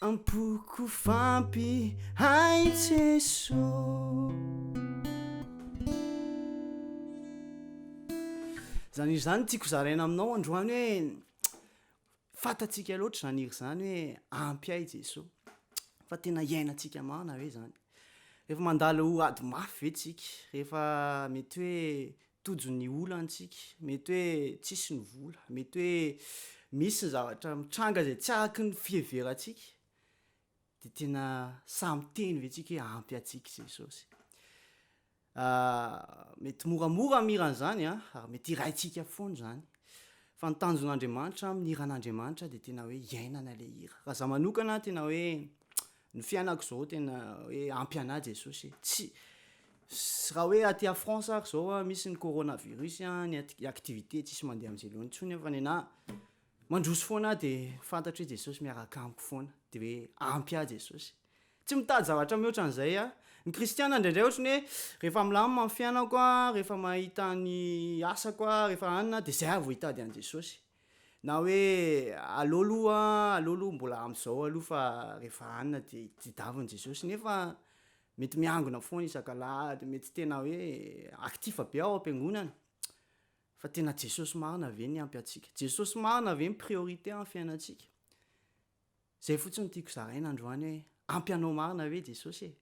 Am-poko fampy ahy Jeso. Izany hira izany tiako zaraina aminao androany hoe fantatsika loatra izany hira izany hoe ampy ahy Jeso. Fa tena iainantsika marina ve izany? Rehefa mandalo ady mafy ve tsika? Rehefa mety hoe Tojo ny olantsika, mety hoe tsisy ny vola, mety hoe misy ny zavatra mitranga izay tsy araky ny fiheverantsika, dia tena sahy miteny ve tsika hoe ampy antsika Jesosy? Mety moramora ny mihira an'izany an, ary mety hiraintsika foana izany, fa ny tanjon'Andriamanitra amin'ny hiran'Andriamanitra dia tena hoe iainana ilay hira. Raha izaho manokana tena hoe Ny fiainako zao tena hoe ampy anah Jesosy e! tsy sy raha hoe aty à France ary zao a misy ny corona virus a ny aty activité tsisy mandeha amzay loany tsony fa nenah mandroso foana ah de fantatro hoe Jesosy miaraka amiko foana de hoe ampy ah Jesosy tsy mitady zavatra mihoatra anzay ah ny kristiana ndraindray ohatry ny hoe rehefa milamina ny fiainako a rehefa mahita ny asako a rehefa anina de zay ah vao hitady any Jesosy Na hoe aleo aloha aleo aloha mbola amin'izao aloha fa rehefa hanina dia tedaviny Jesosy nefa mety miangona foana isak'alahady mety tena hoe actif be ao am-piangonana fa tena Jesosy marina ve ny ampy antsika Jesosy marina ve ny priorité amin'ny fiainantsika zay fotsiny tiako zaraina androany hoe ampy anao marina ve Jesosy e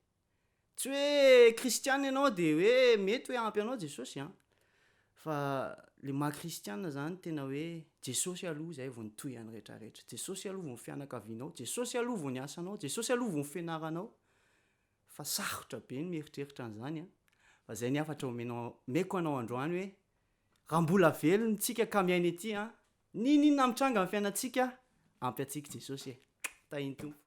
Tsy hoe kristiana ianao dia hoe mety hoe ampy anao Jesosy an! Fa le maha kristiana zany tena hoe Jesosy aloha izay vao ny tohiny rehetra rehetra. Jesosy aloha vao ny fianakavianao, Jesosy aloha vao ny asanao, Jesosy aloha vao ny fianaranao. Fa sarotra be ny mieritreritra an'izany an! Fa izay ny hafatra omenao omeko anao androany hoe raha mbola velona tsika ka miaina ety an! N'inon'inona mitranga amin'ny fiainantsika ampy antsika Jesosy e! Tahin'ny Tompo.